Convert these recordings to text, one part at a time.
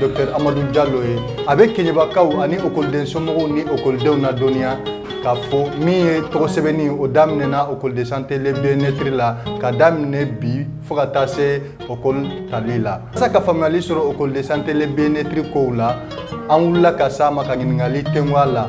Dɔkita amadu jalo ye a bɛ kɛɲɛbakaw ani ekɔliden somɔgɔw ni ekɔlidenw ladɔnniya ka fɔ min ye tɔgɔ sɛbɛnni o daminɛna ekɔli de santé le bien-être la ka daminɛ bi fo ka taa se ekɔli tali la walasa ka faamuyali sɔrɔ ekɔli de santé le bien-être kow la an wulila ka se a ma ka ɲininkali kɛ a la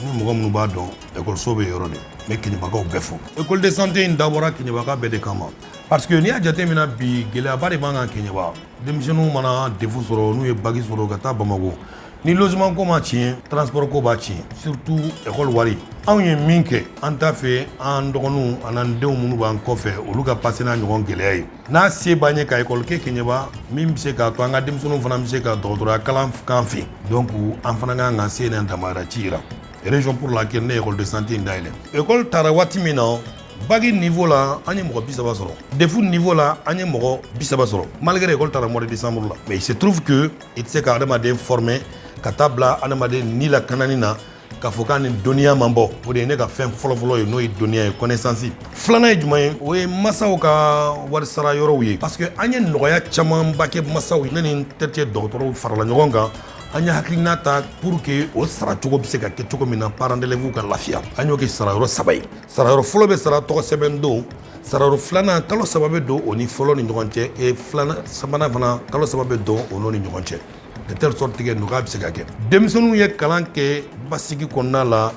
Ni mɔgɔ minnu b'a dɔn ekɔliso bɛ yɔrɔ min ne kɛɲɛbakaw bɛɛ fo ekɔli de santé in dabɔra kɛɲɛbaka bɛɛ de kama paseke n'i y'a jate minɛ bi gɛlɛyaba de b'an kan kɛɲɛba denmisɛnninw mana DEF sɔrɔ n'u ye bac sɔrɔ ka taa bamakɔ ni logement ko ma tiɲɛ transport ko b'a tiɲɛ surtout ekɔli wari anw ye min kɛ an t'a fɛ an dɔgɔninw ani an denw minnu b'an kɔfɛ olu ka pase n'a ɲɔgɔn gɛlɛya ye N'a se b'an ye ka école kɛ Keɲeba min bɛ se k'a to an ka denmisɛnninw fana bɛ se ka dɔgɔtɔrɔya kalan k'an fɛ donc an fana ka kan ka se n'an damayira ci jira raison pour laquelle ne ye école de santé in dayɛlɛ école tara waati min na bac niveau la an ye mɔgɔ 30 sɔrɔ DEF niveau la an ye mɔgɔ 30 sɔrɔ malgré école tara mois de décembre la mais il se trouve que i tɛ se ka adamaden former ka taa bila adamaden ni lakanani na ka fɔ ka nin dɔnniya man bon o de ye ne ka fɛn fɔlɔfɔlɔ ye n'o ye dɔnniya ye kɔnɛsansi filanan ye jumɛn ye o ye masaw ka warisara yɔrɔw ye parce que an ye nɔgɔya camanba kɛ masaw ne ni n terikɛ dɔgɔtɔrɔw farala ɲɔgɔn kan an ye hakilina ta pour que o sara cogo bɛ se ka kɛ cogo min na parents d'élèves ka lafiya an y'o kɛ sarayɔrɔ saba ye sarayɔrɔ fɔlɔ bɛ sara tɔgɔ sɛbɛn don sarayɔrɔ filanan kalo saba bɛ don o ni fɔlɔ ni ɲɔgɔn cɛ e filanan sabanan fana kalo saba bɛ don o n'o ni ɲɔgɔn cɛ De telle sorte que nɔgɔya bɛ se ka kɛ denmisɛnninw ye kalan kɛ basigi kɔnɔna la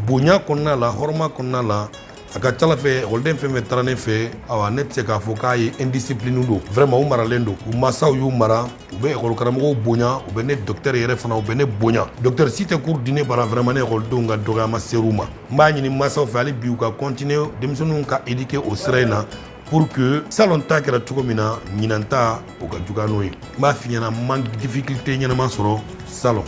bonya kɔnɔna la hɔrɔma kɔnɔna la a ka cala fɛ ekɔliden fɛn fɛn tara ne fɛ ne tɛ se k'a fɔ k'a ye indiscipline don vraiment u maralen don u masaw y'u mara u bɛ ekɔli karamɔgɔw bonya u bɛ ne dɔkitɛri yɛrɛ fana u bɛ ne bonya dɔkitɛri si tɛ kuru di ne bara vraiment ne ekɔlidenw ka dɔgɔya ma se u ma n b'a ɲini mansaw fɛ hali bi u ka continuer denmisɛnninw ka éduquer o sira in na pour que salon ta kɛra cogo min na ɲinan ta o ka juguya n'o ye n b'a f'i ɲɛna man difficulté ɲɛnama sɔrɔ salon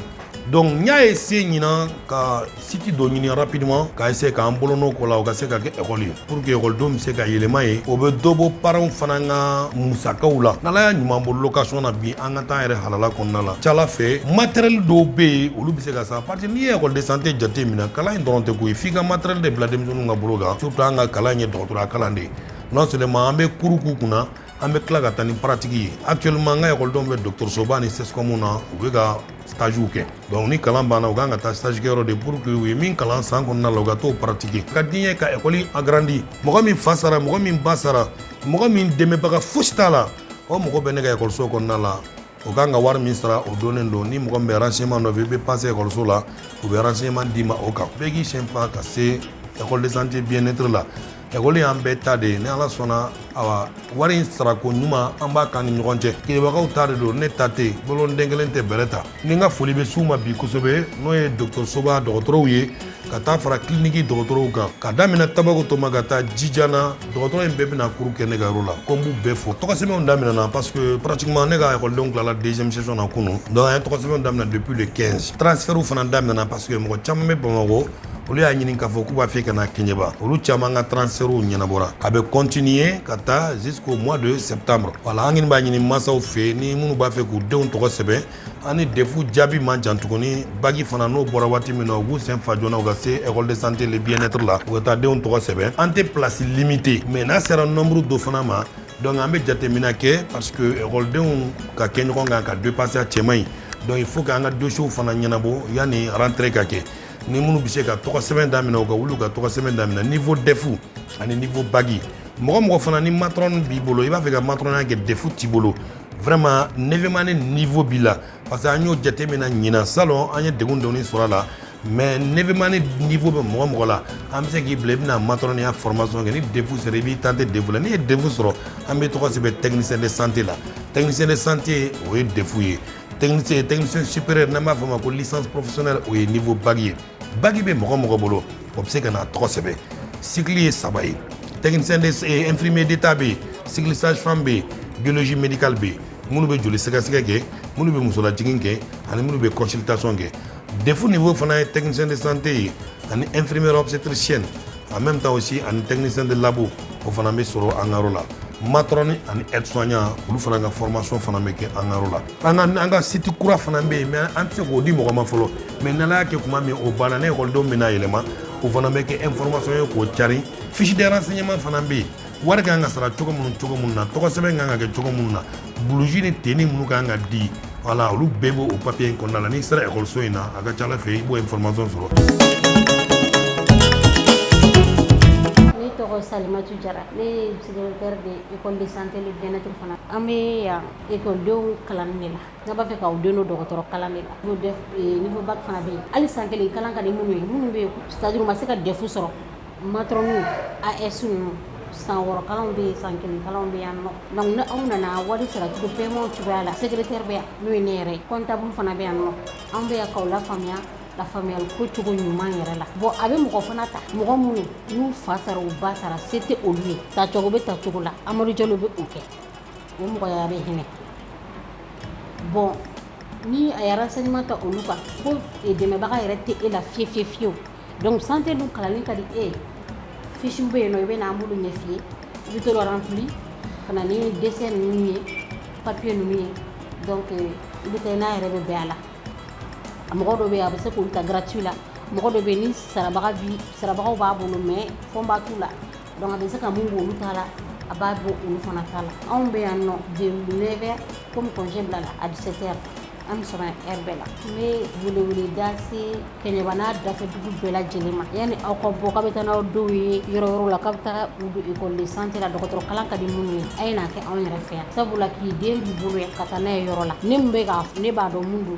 donc n y'a essaye ɲinan ka siti dɔ ɲini rapidement ka essaye k'an bolonɔ k'o la o ka se ka kɛ ekɔli ye pour que ekɔlidenw bɛ se ka yɛlɛma yen o bɛ dɔ bɔ paranw fana ka musakaw la n'ala y'an ɲuman bɔ location na bi an ka taa an yɛrɛ halala kɔnɔna la cala fɛ matériel dɔw bɛ yen olu bɛ se ka san parce que n'i ye ekɔli de santé jate minɛ kalan in dɔrɔn tɛ ko ye f'i ka matériel de bila denmisɛnninw ka bolo kan surtout an ka kalan ye dɔgɔ Tɔrɔya kalan de ye non seulement an bɛ kuru k'u kunna an bɛ tila ka taa ni pratique ye actuellement an ka ekɔliden bɛ dɔgɔtɔrɔsoba ni CSCOM na u bɛ ka stage kɛ dɔnku ni kalan banna u kan ka taa stage kɛyɔrɔ de pour que u ye min kalan san kɔnɔna la u ka taa o pratiquer ka di ye ka ekɔli agrandi mɔgɔ min fa sara mɔgɔ min ba sara mɔgɔ min dɛmɛbaga fosi t'a la o mɔgɔ bɛ ne ka ekɔliso kɔnɔna la o kan ka wari min sara o dɔnnen don ni mɔgɔ min bɛ renseignement nɔfɛ i bɛ passer ekɔliso la u bɛ renseignement d'i ma o kan bɛɛ k'i sen fa ka se école de santé bien être la ekɔli y'an bɛɛ ta de ye ni ala sɔnna awa wari in sarako ɲuman an b'a k'an ni ɲɔgɔn cɛ kɛɲɛbakaw ta de don ne ta tɛ boloden kelen tɛ bɛrɛ ta ni n ka foli bɛ s'u ma bi kosɛbɛ n'o ye dɔgɔtɔrɔsoba dɔgɔtɔrɔw ye ka taa fara kiliniki dɔgɔtɔrɔw kan ka daminɛ tabakoto ma ka taa jijan na dɔgɔtɔrɔ in bɛɛ bɛna kuru kɛ ne ka yɔrɔ la ko n b'u bɛɛ fo tɔgɔsɛbɛnw daminɛna parce que pratiquement ne ka ekɔlidenw tilala deuxième session na kunu donc an ye tɔgɔsɛbɛnw daminɛ depuis le 15 transfɛrw fana daminɛna parce que mɔgɔ caman bɛ bamakɔ olu y'a ɲini k'a fɔ k'u b'a fɛ ka na kɛɲɛba olu caman ka transfɛrw ɲɛnabɔra a bɛ continuer ka taa jusqu'au mois de septembre voilà an kɔni b'a ɲini mansaw fɛ ni minnu b'a fɛ k'u denw tɔgɔ sɛbɛn ani defu jaabi man jan tuguni bagi fana n'o bɔra waati min na u k'u sen fa joona u ka se école de santé le bien-être la u ka taa denw tɔgɔ sɛbɛn an tɛ place limité mais n'a sera nombre dɔ fana ma donc an bɛ jateminɛ kɛ parce que ekɔlidenw ka kɛ ɲɔgɔn kan ka dépasser a cɛ man ɲi donc il faut k'an ka dossiers fana ɲɛnabɔ yanni rentrée ka kɛ ni minnu bɛ se ka tɔgɔ sɛbɛn daminɛ u ka wuli u ka tɔgɔ sɛbɛn daminɛ niveau defu ani niveau bagi mɔgɔ mɔgɔ fana ni matron b'i bolo i b'a fɛ ka matrɔnya kɛ defu t'i bolo vraiment neuvième année niveau b'i la parce que an y'o jateminɛ ɲinan salon an ye degun dɔɔni sɔrɔ a la mais neuvième année niveau bɛ mɔgɔ mɔgɔ la an bɛ se k'i bila i bɛna matɔrɔniya formation kɛ ni defu sera i b'i tenter defu la n'i ye defu sɔrɔ an b'i tɔgɔ sɛbɛn technicien de santé la technicien de santé o ye defu ye technicien technicien supérieur n'an b'a fɔ o ma ko licence professionnelle o ye niveau bac ye bac bɛ mɔgɔ mɔgɔ bolo O bɛ se ka na tɔgɔ sɛbɛn sili ye saba ye tɛmefime de ta bɛ yen sigisanfan bɛ yen bisi minikali bɛ yen minnu bɛ joli sɛgɛsɛgɛ kɛ minnu bɛ musolaj kɛ ani minnu bɛ kɔsitason kɛ def nin fɔ fana ye tɛmisen de sante ye ani efrime setirisiy a mɛn bɛ si ani tɛmisen de labɔ o fana bɛ sɔrɔ an la matr ni ani esɔn olu fana ka fɔrɔmasi fana bɛ kɛ an la an ka an ka site kura fana bɛ yen mais an tɛ se k'o di mɔgɔ ma fɔlɔ mais n'ala y'a kɛ tuma min o banna ne ekɔlidenw bɛna yɛlɛma o fana bɛ kɛ information ye k'o cari fiche de renseignement fana bɛ yen wari ka kan ka sara cogo minnu cogo minnu na tɔgɔ sɛbɛn ka kan ka kɛ cogo minnu na blouse ni tenue minnu ka kan ka di voilà olu bɛɛ b'o o papiye in kɔnɔna la n'i sera ekɔliso in na a ka ca ala fɛ i b'o information sɔrɔ ne tɔgɔ salimatu jara ne ye psychologue de ye école de santé le bien-être fana an bɛ yan E ko denw kalan ne la ne b'a fɛ k'aw den don dɔgɔtɔrɔ kalan de la bac fana bɛ yen hali san kelen kalan ka minnu ye minnu bɛ saj ma se ka defu sɔrɔ matrone ni aide-soignant san wɔɔrɔkaw bɛ san kelen bɛ yan nɔ nka aw nana wari saratigiw bɛɛmaw cogoyaya la secrétaire bɛ yan n'o ye ne yɛrɛ ye comptable fana bɛ yan nɔ anw bɛ k'aw lafaamuya lafaamuya wariko cogo ɲuman yɛrɛ la bɔn a bɛ mɔgɔ fana ta mɔgɔ minnu n'u fa sara u ba sara se tɛ olu ye tacogo bɛ tacogo la amadu jeliwlo bɛ' kɛ O mɔgɔya bɛ hinɛ bɔn ni a yɛrɛ se ɲuman ta olu kan ko dɛmɛbaga yɛrɛ tɛ e la fi fi fiyewu donc santé dun kalan ka di e ye fiche bɛ yen nɔn i bɛ n'an bolo ɲɛ fiye i b'olu remplir ka na ni dossier ninnu ye papier ninnu ye i bɛ n'a yɛrɛ bɛ bɛɛ a la a mɔgɔ dɔ bɛ a bɛ se k'u ta gratuit la mɔgɔ dɔ bɛ ni sarabaga sarabagaw b'a bolo mɛ fɔ b'a' la Donc a bɛ se ka min bɔ olu ta la a b'a bɔ olu fana ta la anw bɛ yan nɔ de 9 comme congé bilala à 17 heures an bɛ sɔrɔ yan heure bɛɛ la n bɛ weleweleda se Kɛɲɛba n'a dafɛ dugu bɛɛ lajɛlen ma yanni aw ka bɔ k'aw bɛ taa n'aw denw ye yɔrɔ wɛrɛw la k'aw bɛ taa u don école de santé la dɔgɔtɔrɔ kalan ka di minnu ye a ye n'a kɛ anw yɛrɛ fɛ yan sabula k'i den b'i bolo yan ka taa n'a ye yɔrɔ la ne min bɛ k'a ne b'a dɔn mun don